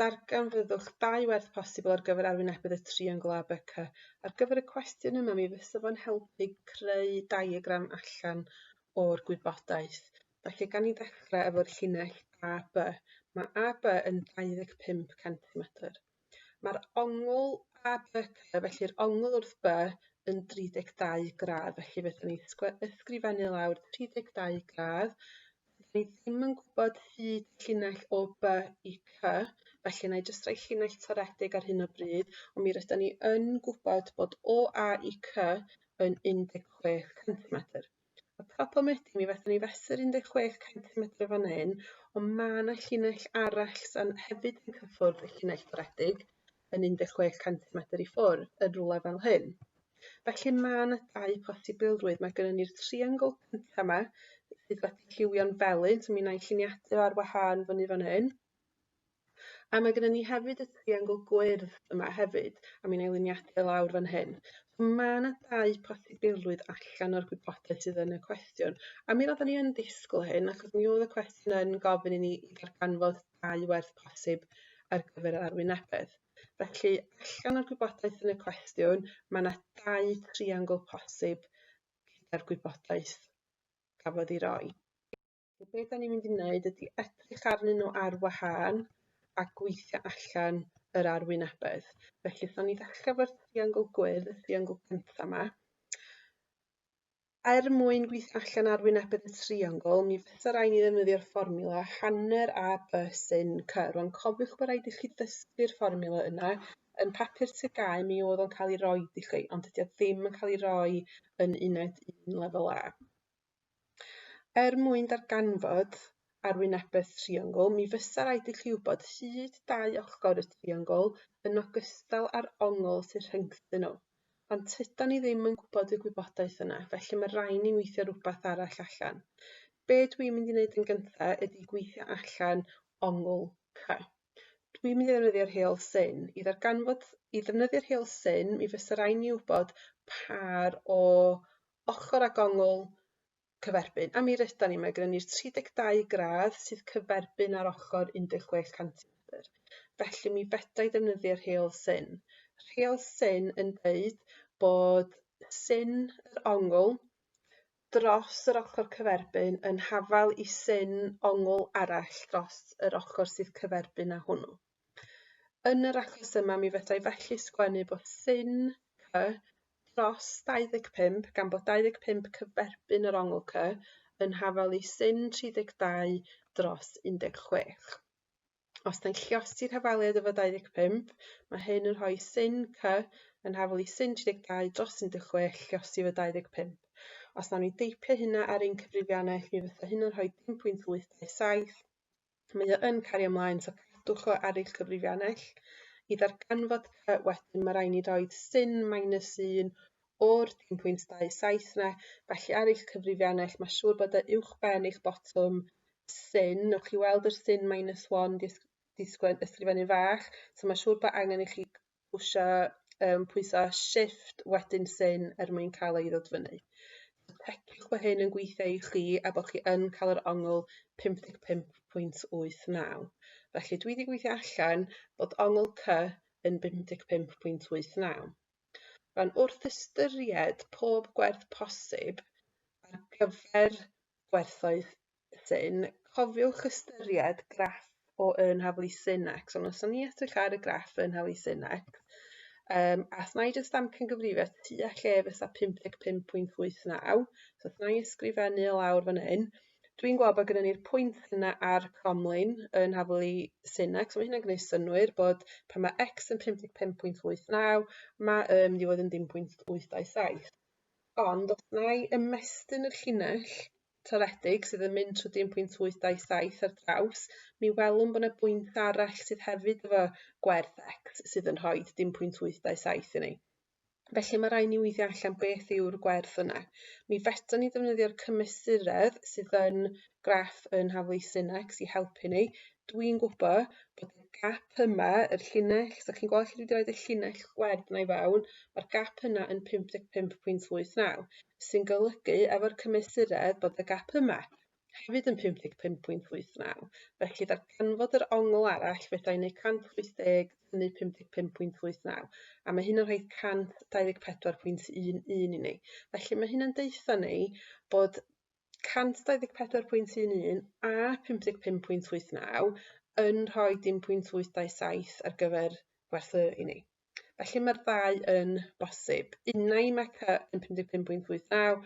darganfyddwch dau werth posibl ar gyfer arwynebedd y triongl ABC. Ar gyfer y cwestiwn yma, mi fysa fo'n helpu creu diagram allan o'r gwybodaeth. Felly, gan ni ddechrau efo'r llinell AB. Mae AB yn 25 cm. Mae'r ongl ABC, felly'r ongl wrth B, yn 32 gradd. Felly, fydden ni'n ysgrifennu lawr 32 gradd 'Dyn ni ddim yn gwbod hyd llinell o by i cy, felly wnâi jyst roi llinell toredig ar hyn o bryd, ond mi rydan ni yn gwbod bod o A i cy yn 16 centimetr. Y problem ydi mi fethon ni fesur 16 centimetr fan 'yn, ond ma' 'na llinell arall sa'n hefyd yn cyffwrdd y llinell toredig, yn 16 cant medr i ffwrdd, yn rwle fel hyn. Felly mae yna dau posibilrwydd. Mae gennym ni'r triongl cynta 'ma sydd wedi lliwio'n felyn, so mi wna i lliniadu ar wahân fyny fan hyn. A mae gennym ni hefyd y triongl gwyrdd yma hefyd, a mi wna i liniadu e lawr fan hyn. So mae yna dau posibilrwydd allan o'r gwybodaeth sydd yn y cwestiwn. A mi roedden ni yn disgwyl hyn, achos mi oedd y cwestiwn yn gofyn i ni i ddarganfod dau werth posib ar gyfer yr arwynebedd. Felly, allan o'r gwybodaeth yn y cwestiwn, mae yna dau triangl posib gyda'r gwybodaeth gafodd ei roi. So be da ni'n mynd i wneud ydy edrych arnyn nhw ar wahân a gweithio allan yr arwynebedd. Felly, so ni ddechrau fo'r triangl gwyrdd, y triangl gyntaf yma. er mwyn gweithio allan ar wynebedd y triongl, mi fysa rhaid ni ddefnyddio'r fformiwla hanner a b sy'n c. Rwan, cofiwch bod rhaid i chi ddysgu'r fformiwla yna. Yn papur TGAU mi oedd o'n cael ei roi i chi, ond dydy o ddim yn cael ei roi yn uned un lefel A. Er mwyn darganfod arwynebedd triongl, mi fysa rhaid i chi wybod hyd dau ochr y triongl yn ogystal â'r ongl sy'n rhyngthyn nhw. Ond tydan ni ddim yn gwybod y gwybodaeth yna, felly mae rhaid ni weithio rhywbeth arall allan. Be dwi'n mynd i wneud yn gyntaf ydy gweithio allan ongl cy. Dwi'n mynd i ddefnyddio'r heol syn. I ddarganfod, i ddefnyddio'r heol syn, mi fysa rhaid ni wybod par o ochr ag ongl cyferbyn, a mi rydan ni, mae gyda ni'r 32 gradd sydd cyferbyn ar ochr 16 centimetr. Felly mi fedra i ddefnyddio'r rheol syn. Rheol syn yn dweud bod syn yr ongl dros yr ochr cyferbyn yn hafal i syn ongl arall dros yr ochr sydd cyferbyn â hwnnw. Yn yr achos yma mi fedrai felly sgwennu bod sin cy dros 25, gan bod 25 cyferbyn yr ongl cy, yn hafal i sin 32 dros 16. Os da'n lliosi'r hafaliad efo 25, mae hyn yn rhoi sin cy yn hafal i sin 32 dros 16 lliosi efo 25. Os nawn ni deipio hynna ar ein cyfrifiannaeth, mi fysa hynna'n rhoi 10.827 Mae o yn cario mlaen, so cadwch o ar eich cyfrifiannell. I ddarganfod cy wedyn mae rhaid ni roed sin minus 1 o'r 1.27 na, felly ar eich cyfrifiannell mae siŵr bod y uwch ben eich botwm sin, wch chi weld yr sin minus 1 di ysgrifennu fach, so mae siŵr bod angen i chi pwsio yym pwyso shift wedyn syn er mwyn ca'l o i ddod fyny. Checiwch bo hyn yn gweithio i chi a bo' chi yn ca'l yr ongl pump deg pump pwynt wyth naw. Felly dwi 'di gweithio allan bod ongl cy yn bum deg pump pwynt wyth naw. Rŵan wrth ystyried pob gwerth posib ar gyfer gwerthoedd Wedyn cofiwch ystyried graff o yn haflu Sinex, ond os o'n i edrych ar y graff yn haflu Sinex, um, a thna i jyst amcan gyfrifiad tu a lle fysa 55.89, so thna i ysgrifennu o lawr fan hyn, dwi'n gweld bod gyda ni'r pwynt yna ar cromlin yn haflu Sinex, so mae hynna'n gwneud synwyr bod pan mae x yn 55.89, mae y yn mynd i fod yn 10.827. Ond os na i ymestyn y llinell Toredig sydd yn mynd trwy 1.827 ar draws, mi welwn bod yna bwynt arall sydd hefyd efo gwerth x sydd yn rhoi 1.827 i ni. Felly mae rhaid ni weithio allan beth yw'r gwerth yna. Mi feto ni ddefnyddio'r cymesuredd sydd yn graff yn haflu Synex i helpu ni. Dwi'n gwybod bod y gap yma, yr llinell, so chi'n gweld lle dwi wedi rhoi y llinell gwerd yna i fewn, mae'r gap yna yn 55.89. sy'n golygu efo'r cymesuredd bod y gap yma hefyd yn 55.89. Felly ddarganfod yr ongl arall fedra i wneud 180 tynnu 55.89 a mae hyn yn rhoi 124.11 i ni. Felly mae hyn yn deutha ni bod 124.11 a 55.89 yn rhoi dim pwynt 827 ar gyfer gwerthu i ni. Felly mae'r ddau yn bosib. Unai mae C yn 55.89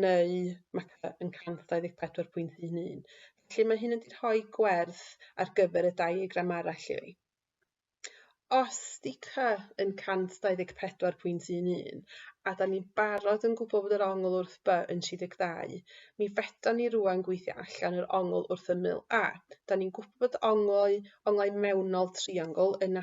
neu mae C yn 124.11. Felly mae hyn yn rhoi gwerth ar gyfer y diagram arall i fi. Os di C yn 124.11 a da ni'n barod yn gwybod bod yr ongl wrth B yn 32, mi fedon ni rwan gweithio allan yr ongl wrth ymyl A. Da ni'n gwybod bod onglau, onglau mewnol triongl yn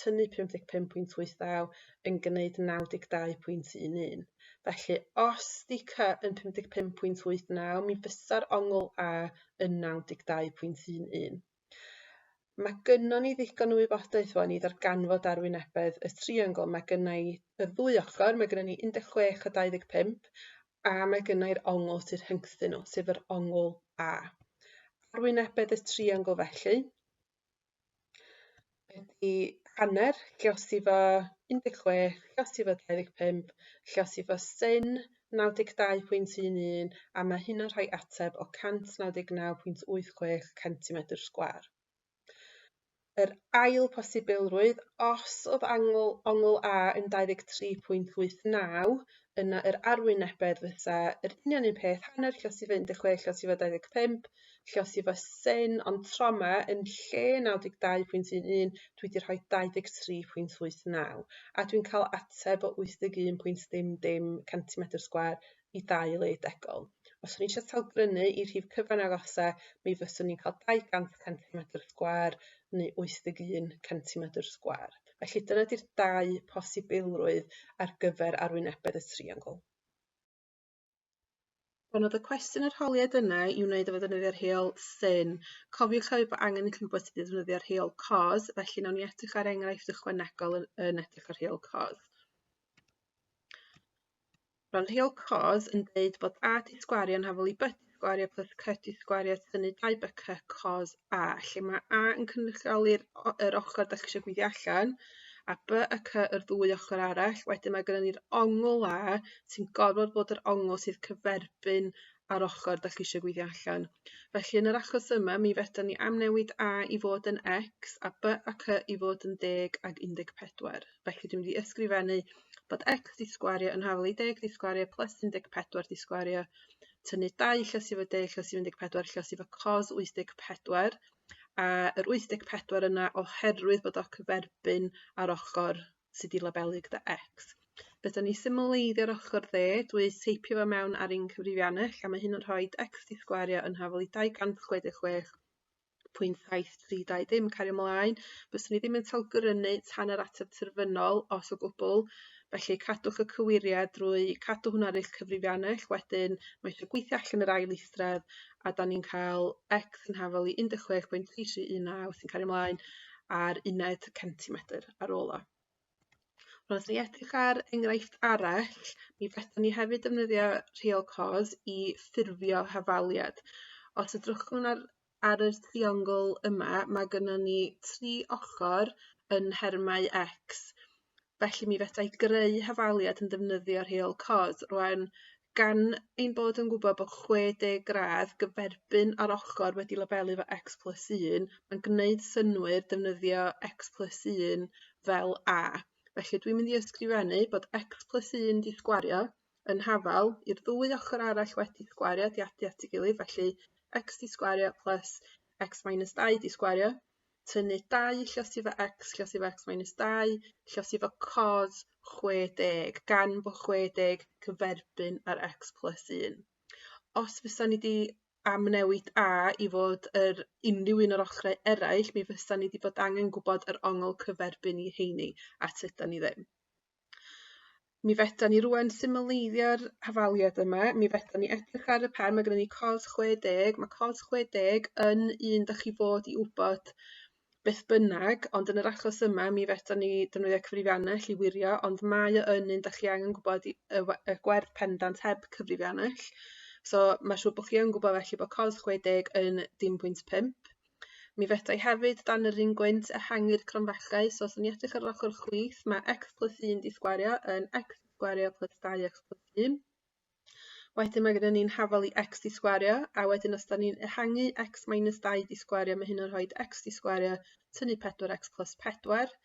tynnu 55.89 yn gneud 92.11. Felly, os di cy yn 55.89, mi fysa'r ongl a yn 92.11. Mae gynnon ni ddigon o wybodaeth fo ni ddarganfod arwynebedd y triongl. Mae gynna i y ddwy ochr, mae gynnon ni 16 a 25, a mae gynna i'r ongl sydd rhyngthyn nhw, sef yr ongl A. Arwynebedd y triongl felly, Ydi hanner lluosog i fo un deg chwech, lluosog i fo dau ddeg pump, lluosog i fo syn naw deg dau pwynt un un, a mae hyn yn rhoi ateb o 199.86 centimetr sgwâr. Yr ail posibilrwydd, os oedd angl, ongl A yn 23.89, yna yr arwynebedd fysa yr union un peth, hanner lluosog i fo 16, lluosog i fo 25, lle os yw fy syn on trauma yn lle 92.11 dwi wedi rhoi 23.89 a dwi'n cael ateb o 81.00 centimetr sgwar i dau le degol. Os o'n i eisiau talgrynu i rhif cyfan agosau mi fyswn i'n cael 200 centimetr sgwar neu 81 centimetr sgwar. Felly dyna di'r dau posibilrwydd ar gyfer arwynebedd y triongl. Pan oedd y cwestiwn yr holiad yna i wneud efo ddefnyddio'r rheol syn, cofiwch hefyd bod angen i chi wybod sut i ddefnyddio'r rheol cos, felly nawn ni edrych ar enghraifft ychwanegol yn, yn edrych ar rheol cos. Roedd rheol cos yn dweud bod AT sgwario'n hafol i byt gwario plus credit gwario tynnu dau byca cos a lle ma' A yn cynrychioli'r o- yr ochor 'dach chi isio gweithio allan a by y cy yr ddwy ochor arall wedyn ma' gynnon ni'r ongl A sy'n gorfod bod yr ongl sydd cyferbyn a'r ochor 'dach chi isio gweithio allan. Felly yn yr achos yma mi fedran ni amnewid A i fod yn X a by a cy i fod yn deg ag 14. Felly dwi'n mynd i ysgrifennu bod X 'di sgwario yn hafel i deg 'di sgwario plus 14 'di sgwario tynnu dau llysi efo deg, llysi efo 14, llysi efo cos 84, a yr 84 yna oherwydd bod o cyferbyn ar ochr sydd wedi labelu gyda X. Beth o'n i symleiddio'r ochr dde, dwi teipio fo mewn ar un cyfrifiannell a mae hyn yn rhoi x di sgwario yn hafol i 266 pwynt daith 320 yn cario ymlaen. Byswn i ddim yn talgrynu tan yr ateb terfynol os o gwbl. Felly cadwch y cywiriad drwy cadw hwnna ar eich cyfrifiannell. Wedyn mae eisiau gweithio allan yr ail eithred a da ni'n cael X yn hafel i 16.3319 sy'n cario ymlaen ar uned centimetr ar ôl o. Os ni edrych ar enghraifft arall, mi fedrwn ni hefyd defnyddio rheol cos i ffurfio hafaliad. Os edrychwn ar ar yr triongl yma, mae gynnon ni tri ochr yn nhermau x. Felly mi fedrai greu hafaliad yn defnyddio rheol cos. Rŵan gan ein bod yn gwbod bod chwe deg gradd gyferbyn â'r ochor wedi labelu efo Ecs Plus un yn gneud synnwyr defnyddio Ecs Plus un fel A. Felly dwi'n mynd i ysgrifennu bod Ecs Plus un 'di sgwario yn hafal i'r ddwy ochr arall wedi sgwario 'di adu at ei gilydd felly Ecs 'di sgwario plus Ecs minus dau 'di sgwario. tynnu dau llysifa ecs llysifa ecs minus dau llysifa cos chwe deg gan bo' chwe deg cyferbyn â'r ecs plys un. Os fysan ni 'di amnewid a i fod yr unrhyw un o'r ochre eraill mi fysan ni 'di bod angen gwbod yr ongl cyferbyn i rheini a tydan ni ddim. Mi fedan ni rŵan symleiddio'r hafaliad yma, mi fedan ni edrych ar y pen, ma' gynnon ni cos 60, ma' cos 60 yn un 'dach chi fod i wbod beth bynnag, ond yn yr achos yma mi fedan ni defnyddio cyfrifiannell i wirio, ond mae o yn un 'dach chi angen gwbod i- y we- y gwerth pendant heb cyfrifiannell. So ma' siŵr bo' chi yn gwbod felly bo' cos 60 yn dim pwynt pump. Mi fedrai hefyd dan yr un gwynt ehangu'r cromfellau, so os ni'n edrych ar yr ochr chwith, mae x plus 1 di sgwario yn x sgwario plus 2x plus 1. Wedyn mae gyda ni'n hafal i x di sgwario, a wedyn os da ni'n ehangu x minus 2 di sgwario, mae hyn yn rhoi x di sgwario tynnu 4x plus 4,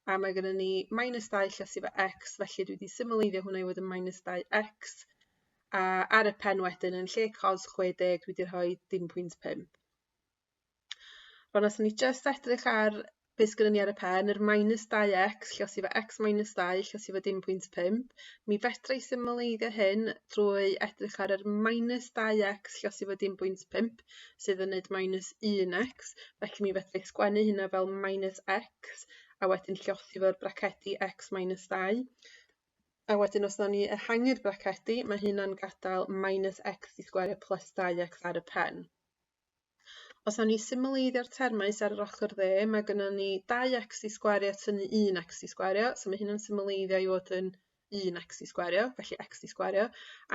a mae gyda ni minus 2 lle sydd efo x, felly dwi wedi symleiddio hwnna i fod yn minus 2x, a ar y pen wedyn yn lle cos 60 dwi wedi rhoi dim pwynt 5. Wel os ni jyst edrych ar be sgynnon ni ar y pen yr minus 2x lle os i fo x minus 2 lle os i fo dim pwynt 5 mi fedra i symleiddio hyn drwy edrych ar yr minus 2x lle os i fo dim pwynt 5 sydd yn neud minus 1x felly mi fedra i sgwennu hynna fel minus x a wedyn llosgi fo'r bracedi x minus 2 a wedyn os nawn ni ehangu'r bracedi mae hynna'n gadael minus x i sgwere plus 2x ar y pen. Os awn ni symleiddio'r termau sydd ar yr ochr dde, mae gennym ni dau x i sgwario tynnu un x i sgwario, so mae hyn yn symleiddio i fod yn un x i sgwario, felly x i sgwario,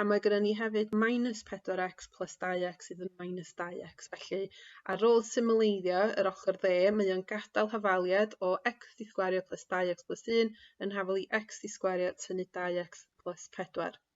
a mae gennym ni hefyd minus 4x plus 2x sydd yn minus 2x, felly ar ôl symleiddio yr ochr dde, mae o'n gadael hafaliad o x i sgwario plus 2x plus 1 yn hafal i x i sgwario tynnu 2x plus 4.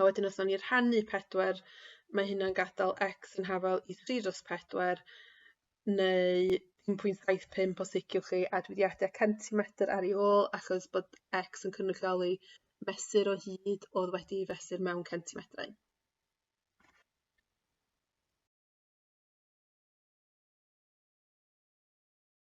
A wedyn os nawn ni rhannu pedwar mae hynna'n gadael x yn hafal i 3 dros 4 neu 1.75 os liciwch chi a dwi wedi adio centimetr ar ei ôl achos bod x yn cynrychioli mesur o hyd oedd wedi ei fesur mewn centimetrau.